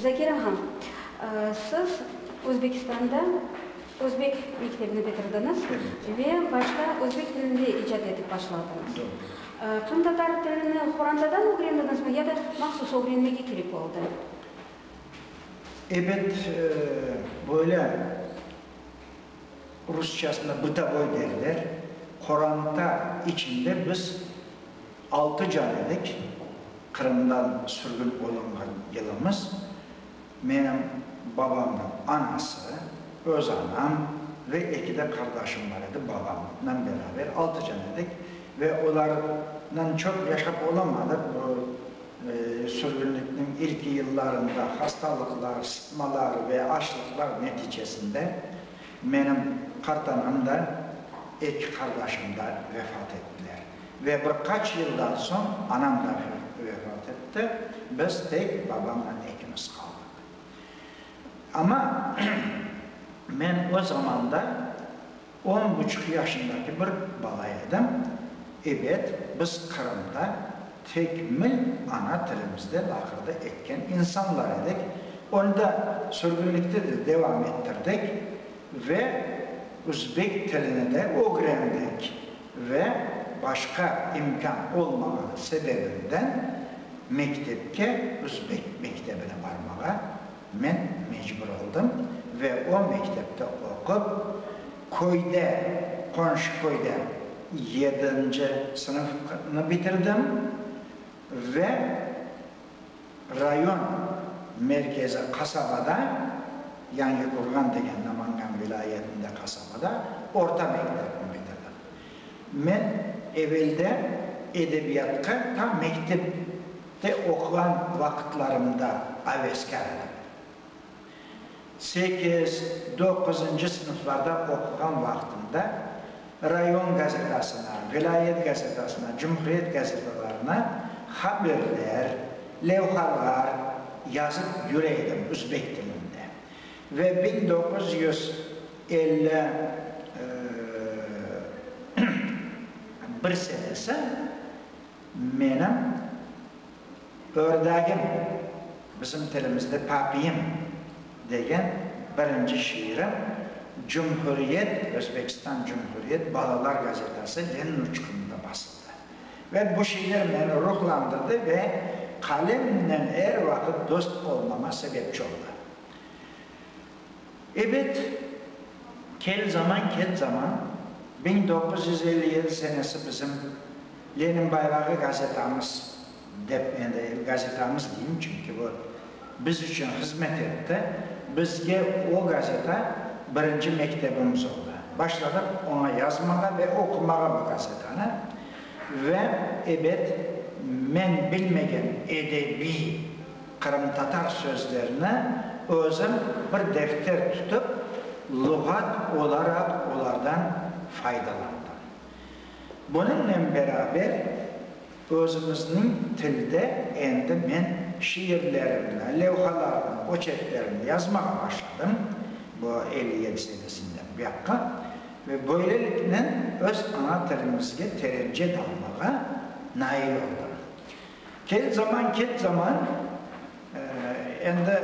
Zakira han, siz Özbekistanda özbek mektebini bitirdiñiz ve başta özbek tilinde icat etip başladıñız. Qırımtatar tilini qorantadan ögrendiñizmi ya da mahsus ögrenmege kerek oldı? Ebet, böyle rusçasını bıtovoy derler, qoranta içinde biz Altı can edik, Qırımdan sürgün olunğan yılımız. Menim babamnıñ anası, öz anam ve eki de qardaşım bar edi, babamnıñ beraber altı can edik. Ve olarnen çoq yaşap olamadıq, bu sürgünlikniñ ilki yıllarında hastalıqlar, sıtmalar ve açlıqlar neticesinde menim qartanam da, eki qardaşım da vefat ettiler. Ve bir qaç yıldan soñ anam da vefat etti, biz tek babamnen ekimiz qaldıq. Amma men o zamanda on buçuq yaşındaki bir bala edim. Ebet, biz Qırımda tekmil ana tilimizde laqırdı etken insanlar edik. Onı da sürgünlikte de devam ettirdik ve üzbek tilini de ögrendik. ve başqa imkân olmağanı sebebinden mektepke, özbek mektebine barmağa men mecbur oldım ve o mektepte oqup, köyde, qonşu köyde yedinci sınıfnı bitirdim ve Rayon merkezi qasabada, Yangiqurğan degen Namangan vilâyetinde qasabada orta mektepni bitirdim. Men evelde edebiyatqa ta mektepte oquğan vaqıtlarımda aveskâr edim. Sekiz, doquzıncı sınıflarda oquğan vaqtımda rayon gazetasına, vilâyet gazetasına, cumhuriyet gazetalarına haberler, levhalar yazıp yüre edim üzbek tilinde. Ve biñ doquz yüz elli bir senesi menim Ördagim, bizim tilimizde papiyim, degen birinci şiirim Cumhuriyet, Özbekistan Cumhuriyet balalar gazetası Lenin uçqunında basıldı. Ve bu şiir meni ruhlandırdı ve qalemnen er vaqıt dost olmama sebepçi oldı. Ebet, kel zaman, ket zaman, biñ doquz yüz elli yedi senesi bizim Lenin bayrağı gazetamız, dep endi gazetamız deyim, çünki bu biz içün hızmet etti, bizge o gazeta birinci mektebimiz oldı. Başladıq oña yazmağa ve oqumağa bu gazetanı. Ve, ebet, men bilmegen edebiy. Qırımtatar sözlerini özün bir defter tutıp, luğat olaraq olardan faydalandım. Bunıñnen beraber, özümizniñ tilde endi men şiirlerimni, levhalarımnı, oçerklerimni yazmağa başladım, bu elli yedi senesinden buyaqqa, ve böyleliknen öz ana tilimizge terence dalmağa nail oldım. Kel zaman, kel zaman, endi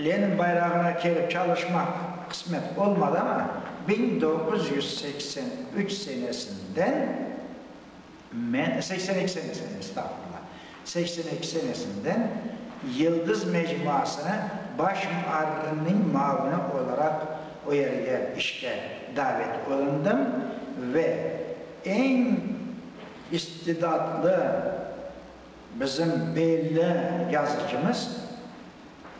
Lenin bayrağına kelip çalışmaq qısmet olmadı, amma biñ doğuz yüz seksen üç senesinden men, seksen eki senesinden, estağfurullah, seksen eki senesinden Yıldız mecmuasına baş muarrirniñ muavini olaraq o yerge işke davet olundım ve eñ İstidatlı bizim belli yazıcımız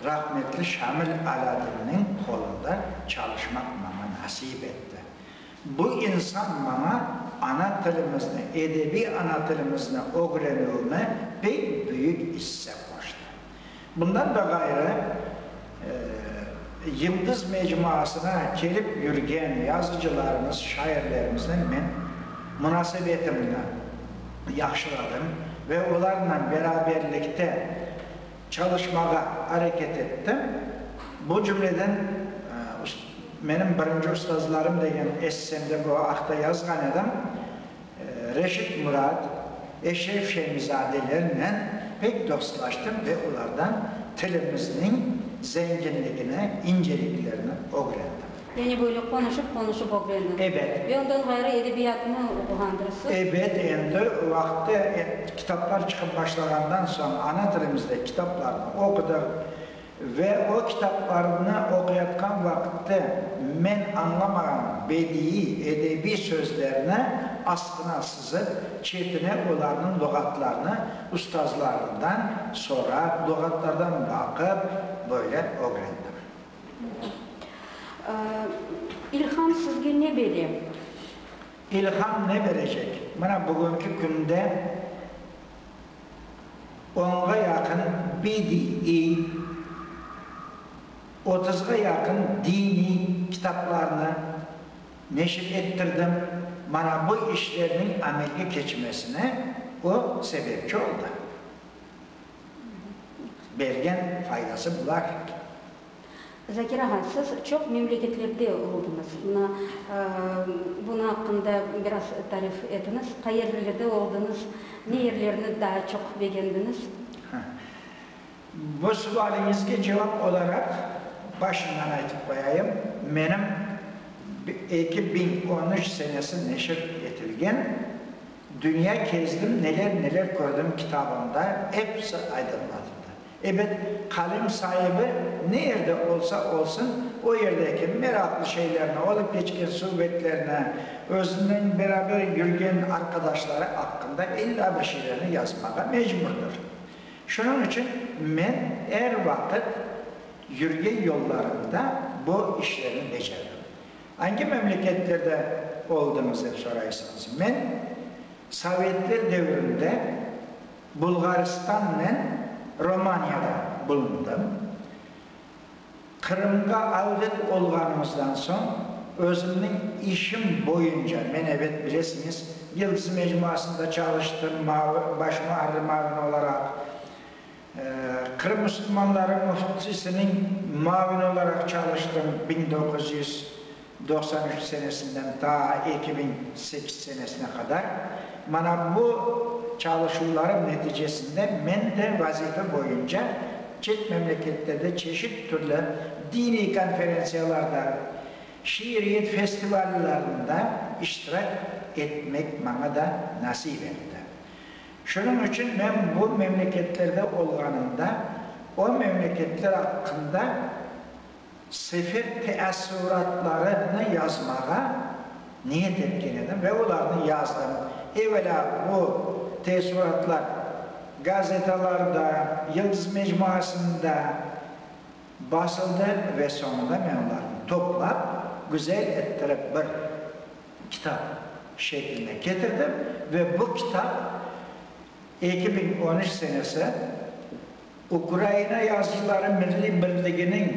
rahmetli Şamil Alâdinniñ qolunda çalışmaq maña nasip etti. Bu insan maña ana tilimizni, edebiy ana tilimizni ögrenüvime pek büyük isse qoştı. Bundan da ğayrı, Yıldız mecmuasına kelip yürgen yazıcılarımız, şairlerimiznen men munasebetimni yahşıladım ve olarnan beraberlikte çalışmağa areket ettim. Bu cümleden Menim birinci ustazlarım degen essemde bu aqta yazğan edim. Reşit Murat, Eşref Şemizadelernen pek dostlaştım ve olardan tilimizniñ zenginligini, inceliklerini ögrendim. Yani böyle qonuşıp qonuşıp ögrendim. Ebet. Ve ondan ğayrı edebiyatnı oquğandırısız? Ebet, endi o vaqıtta kitaplar çıqıp başlağandan soñ ana tilimizde kitaplarnı oqudıq. Ve o kitaplarnı oquyatqan vaqıttı men añlamağan bediiy, edebiy sözlerni asqına sızıp, çetine olarnıñ luğatlarını ustazlarımdan sorap, luğatlardan baqıp, böyle ögrendim. Mhmm. İlham sizge ne bere? İlham ne berecek? Mına bugünki künde onğa yaqın BDI, otuzğa yaqın diniy kitaplarnı neşir ettirdim. Mana bu işlerniñ amelge keçmesine o sebepçi oldı. Bergen faydası bular. Zakir ağa, siz çoq memleketlerde oldınız. Mına, bunı aqqında biraz tarif etiniz. Qayerlilerde oldınız, ne yerlerni daa çoq begendiniz? Ha. Bu sualiñizge cevap olaraq, başından aytıp qoyayım, menim eki biñ on üç senesi neşir etilgen Dünya kezdim, neler-neler kördim kitabımda episi aydınlatıldı. Ebet, qalem saibi ne yerde olsa olsun, o yerdeki meraqlı şeylerni, olıp keçken suvetlerni, özünen beraber yürgen arqadaşları aqqında illa bir şeylerni yazmağa mecburdır. Şunıñ içün men er vaqıt yürgen yollarımda bu işlerni becerdim. Angi memleketlerde oldıñız, dep soraysıñız. Men sovetler devrinde Bulğaristannen Romaniyada bulundım. Qırımğa avdet olğanımızdan soñ, özümniñ işim boyunca, men, ebet, bilesiñiz, Yıldız mecmuasında çalıştım, muavi, baş muarrir muavini olaraq, Qırım müsülmanları müftisiniñ muavini olaraq çalıştım, biñ doquz yüz. Doqsan üç senesinden ta eki biñ sekiz senesine qadar, mana bu çalışuvlarım neticesinde men de vazife boyunca çet memleketlerde çeşit türlü diniy konferentsiyalarda, şiiriyet festivallarında iştirak etmek maña da nasip etti. Şunıñ içün men bu memleketlerde olğanımda o memleketler aqqında, Sefer teessüratlarımnı yazmağa niyet etken edim ve olarnı yazdım. Evelâ bu teessüratlar gazetalarda, Yıldız mecmuasında basıldı ve soñunda men olarnı toplap, güzel ettirip bir kitap şekline ketirdim ve bu kitap eki biñ on üç senesi, Ukraina yazıçıları milliy birliginiñ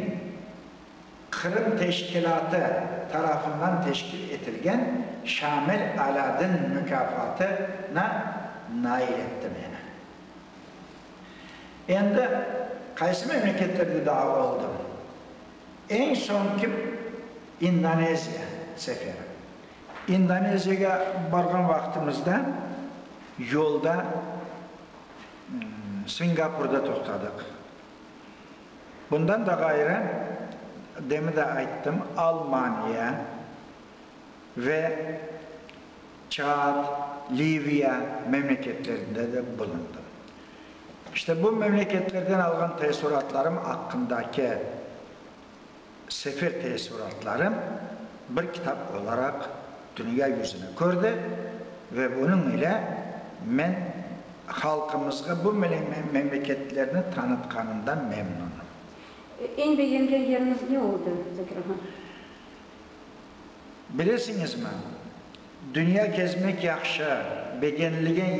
Qırım teşkilâtı tarafından teşkil etilgen Şamil Alâdin mukâfatına nail etti meni. Endi qaysı memleketlerde daa oldım? Eñ soñki İndoneziya seferim. İndoneziyege barğan vaqtımızda yolda Singapurda toqtadıq. Bundan da ğayrı, demin de ayttım, Almaniya ve Çad, Liviya memleketlerinde de bulundım. İşte bu memleketlerden alğan teessuratlarım aqqındaki Sefer teessuratları bir kitap olaraq dünya yüzüni kördi ve bunıñ ile men halqımızğa bu memleketlerni tanıtqanımdan memnunım. Eñ begengen yeriñiz ne oldı, Zakir ağa? Bilesiñizmi, dünya kezmek yahşı, begenilgen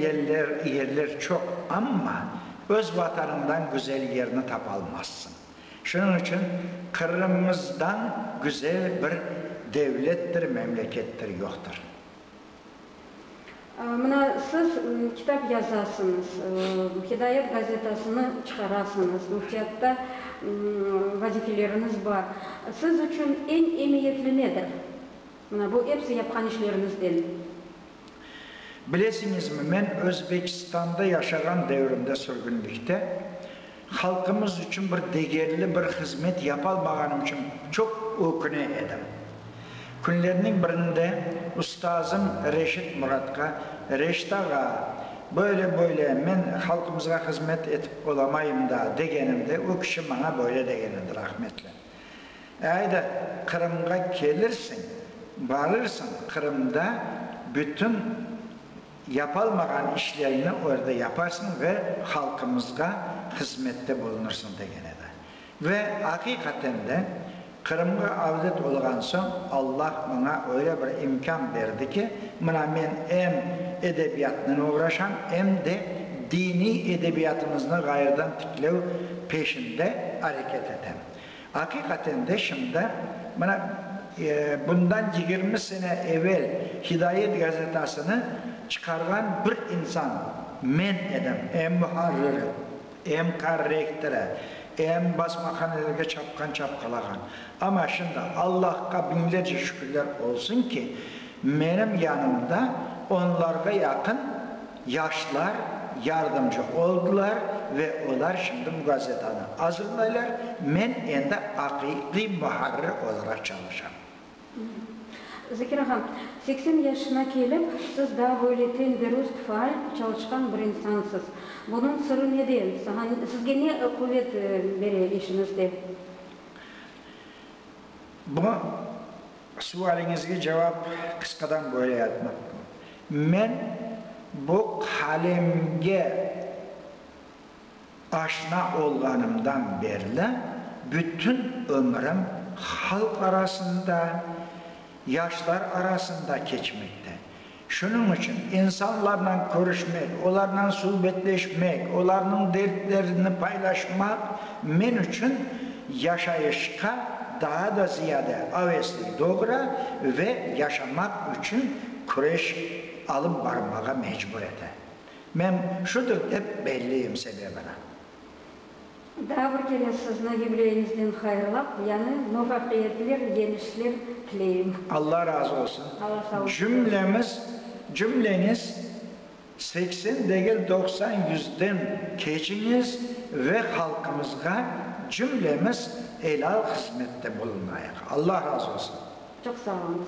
yerler çoq, amma öz Vatanıñdan güzel yerni tapalmazsıñ. Şunıñ içün Qırımımızdan güzel bir devlettir, memlekettir yoqtır. Mına siz kitap yazasıñız, Hidayet gazetasını çıqarasıñız, müftiyatta vazifeleriñiz bar. Siz içün eñ emiyetli nedir? Mına bu episi yapqan işleriñizden. Bilesiñizmi, men Özbekistanda yaşağan devrimde sürgünlikte, halqımız içün bir degerli bir hızmet yapalmağanım içün çoq öküne edim. Künlerniñ birinde ustazım Reşit Muratqa, Reşit ağa, böyle-böyle, men halqımızğa hızmet etip olamayım da, degenimde, o kişi maña böyle degenidir, Ahmetli. Ayda Qırımğa kelirsiñ, barırsıñ, Qırımda bütün yapalmağan işlerini orda yaparsıñ ve halqımızğa hızmette bulunırsıñ, degen edi. Ve aqiqaten de, Qırımğa avdet olğan soñ Alla maña öyle bir imkân berdi ki, mına men em edebiyatnen oğraşam, em de diniy edebiyatımıznı ğayrıdan tiklev, Peşinde areket etem. Aqiqaten de şimdi, mına, bundan yigirmi sene evel Hidayet gazetasını çıqarğan bir insan men edim. Em muharriri, em korrektori, em basmahanelerge çapqan çapqalağan. Amma şimdi Allahqa biñlerce şükürler olsun ki, menim yanımda onlarğa yaqın, Yaşlar yardımcı oldılar ve olar şimdi bu gazetanı azırlaylar, men endi aqiqiy muharrir olaraq çalışam. Zekir ağa, seksen yaşına kelip, siz daa böyle ten derust, faal, çalışqan bir insansız. Bunıñ sırrı nede? Saña, sizge ne quvet bere işiñizde? Bu Sualiñizge cevap qısqadan böyle aytmaq. Men bu qalemge aşna olğanımdan berli bütün ömrüm halq arasında, yaşlar arasında keçmekte. Şunıñ içün insanlarla körüşmek, olarnan subetleşmek, olarnıñ dertlerini paylaşmaq men içün yaşayışqa daa da ziyade avesli doğura ve yaşamaq içün küreş alıp barmağa mecbur ete. Men şudur dep belliyim sebebini. Daa bir kere sizni yubileyinizden hayırlap, yañı muvafiyetler, yeñişler tileyim. Alla razı olsun. Cümlemiz, cümleniz seksen degil doqsan yüzden keçiñiz ve halqımızğa cümlemiz elâl hızmette bulunayıq. Alla razı olsun. Çoq sağ oluñız.